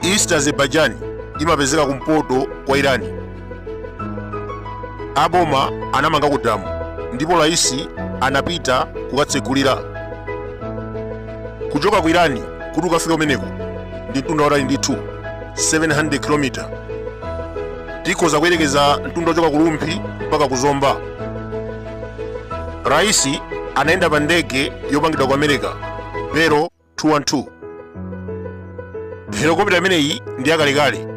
East Azerbaijan imapezeka kumpoto kwa Irani aboma anamanga ku damu ndipo raisi anapita kukatsegulira kuchoka ku irani kuti ukafike kumeneko ndi mtunda watali ndithu 700 km tikhoza kuyerekeza mtunda wochoka ku rumphi mpaka ku zomba raisi anayenda pa ndege yopangidwa ku america Bell 212 helikopita imeneyi ndi yakalekale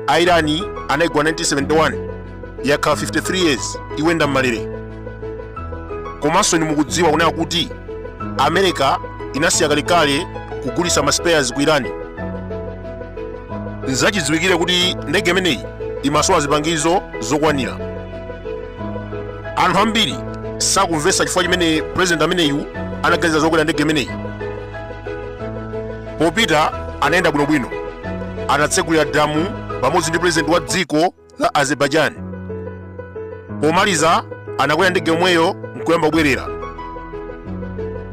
a irani anayigula 1971 yakhala 53 years ikuyenda m'malere komanso inu mukudziwa kunena kuti america inasiya kalekale kugulitsa ma spares ku irani nzachidziwikire kuti ndege imeneyi imasowa zipangizo zokwanira anthu ambiri sakumvetsa chifukwa chimene president ameneyu anaganiza zokwera ndege imeneyi popita anayenda bwinobwino anatsegulira damu pamodzi ndi president wa dziko la azerbaijan pomaliza anakwera ndege yomweyo nkuyamba kubwerera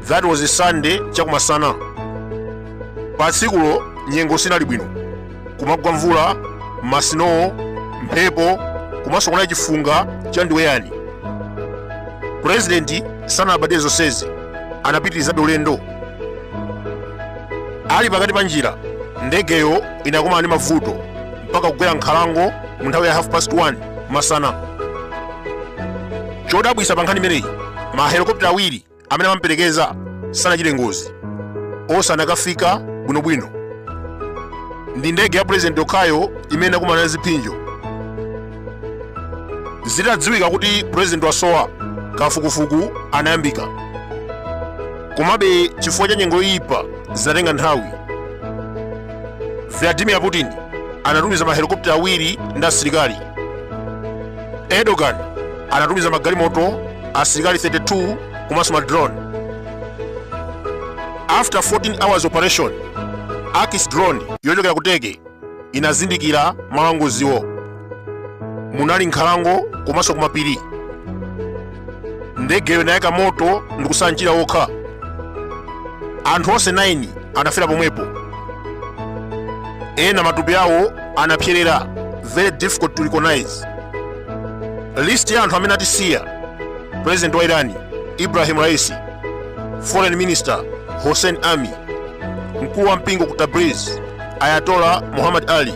that was a sunday chakumasana pa tsikulo nyengo sinali bwino kumagwa mvula masinowo mphepo komanso kunali chifunga cha ndiweyani purezidenti sanalabadire zonsezi anapitirizabe ulendo ali pakati pa njira ndegeyo inakumana ndi mavuto mpaka kugwera m'nkhalango mu nthawi ya half past 1 masana chodabwisa pa nkhani imeneyi ma helikopita awiri amene amamperekeza sanachite ngozi onse anakafika bwinobwino ndi ndege ya pulezidenti yokhayo imene inakumana ndi ziphinjo zitadziwika kuti pulezidenti wasowa kafukufuku anayambika komabe chifukwa cha nyengo yoyipa zinatenga nthawi vladimir putin anatumiza mahelikopita awiri ndi asilikali erdogan anatumiza magalimoto asilikali 32 komanso madrone after 14 hours operation akis drone yochokera ku Turkey inazindikira malo angoziwo munali m'nkhalango komanso kumapiri ndegeyo inayaka moto ndikutsala mchira wokha anthu onse 9 anafera pomwepo ena matupi awo anapserera very difficult to recognize list ya anthu amene atisiya president wa irani ibrahim raisi foreign minister hossein ami mkulu wa mpingo ku tabriz ayatola muhammad ali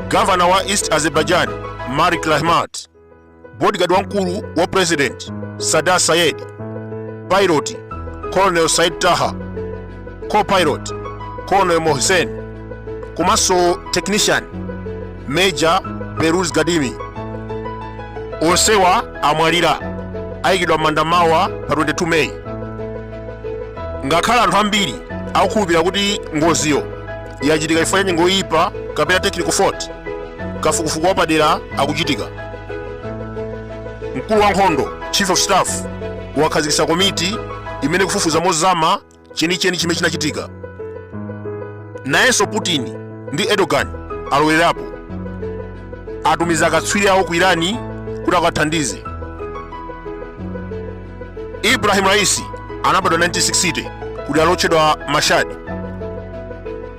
gavana wa east azerbaijan marik rahmat bodyguard wamkulu wa president sadar sayed pilot colonel said taha copilot colonel mohsen komanso technician major beruz gadimi onsewa amwalira aikidwa m'manda mawa pa 22 meyi ngakhale anthu ambiri akukhulupirira kuti ngoziyo yachitika chifukwa cha nyengo yoyipa kapena technical fault kafukufuku wapadera akuchitika mkulu wa nkhondo chief of staff wakhazikitsa komiti imene ikufufuza mozama chenicheni chimene chinachitika nayenso putin ndi erdogan alowererapo atumiza akatswiri awo ku irani kuti akathandize ibrahim raisi anabadwa 1960 kudera lotchedwa mashad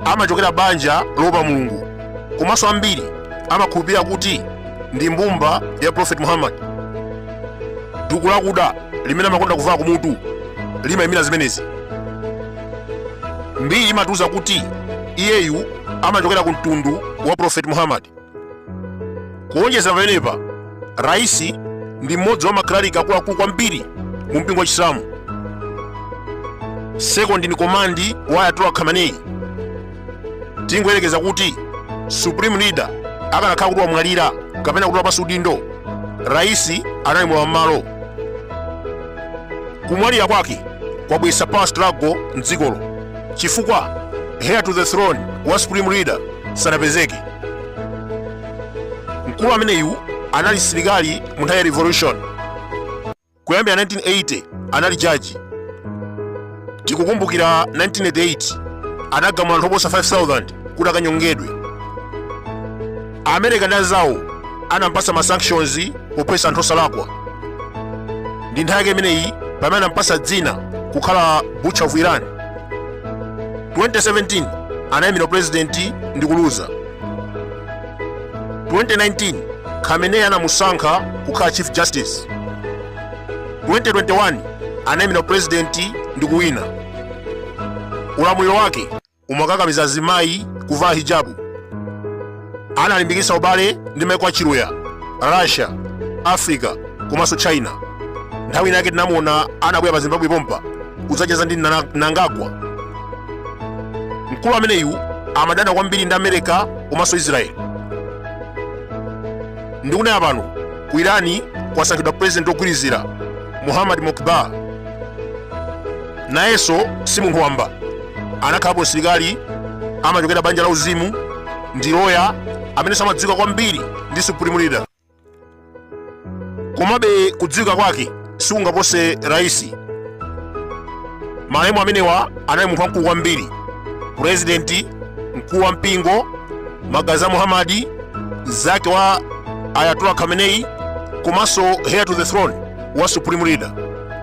amachokera banja loopa mulungu komanso ambiri amakhulupirira kuti ndi mbumba ya prophet muhammad duku lakuda limene amakonda kuvala kumutu limayimira zimenezi mbiri imatiuza kuti iyeyu amachokera ku mtundu wa prophet muhammad kuonjeza pamenepa raisi ndi mmodzi wa makleriki akuluakulu kwambiri mu mpingo wa chisilamu second in command wa ayatollah khamenei tingoyerekeza kuti supreme leader akanakhala kuti wamwalira kapena kuti wapasi udindo raisi anali mlowa m'malo kumwalira kwake kwabweretsa power struggle mdzikolo chifukwa heir to the throne wa supreme leader sanapezeke mkulu ameneyu anali msilikali mu nthawi ya revolution kuyambira 1980 anali jaji tikukumbukira 1988 anagamula anthu oposa 5000 kuti akanyongedwe america ndi anzawo anampasa ma sanctions pophetsa anthu osalakwa ndi nthawi yake imeneyi pamene anampasa dzina kukhala butcher of iran 2017 anayimira upurezidenti ndi kuluza 2019 khamenei anamusankha kukhala chief justice 2021 anayimira upurezidenti ndi kuwina ulamuliro wake umakakamiza azimayi kuvala hijabu analimbikitsa ubale ndi maiko a chiluya russia africa komanso china nthawi inake tinamuona anabwera pa zimbabwe pompa kudzacheza ndi mnangagwa mkulu ameneyu amadana kwambiri ndi america komanso israel ndikunena pano ku irani kwasankhidwa president wogwirizira muhammad mokbar nayenso si munthu wamba anakhalapo msilikali amachokera banja la uzimu ndi loya amene amadziwika kwambiri ndi supreme leader komabe kudziwika kwake sikungapose raisi malemu amenewa anali munthu wamkulu kwambiri purezidenti mkulu wa mpingo magazi a muhamadi mzake wa ayatollah khamenei komanso heir to the throne wa supreme leader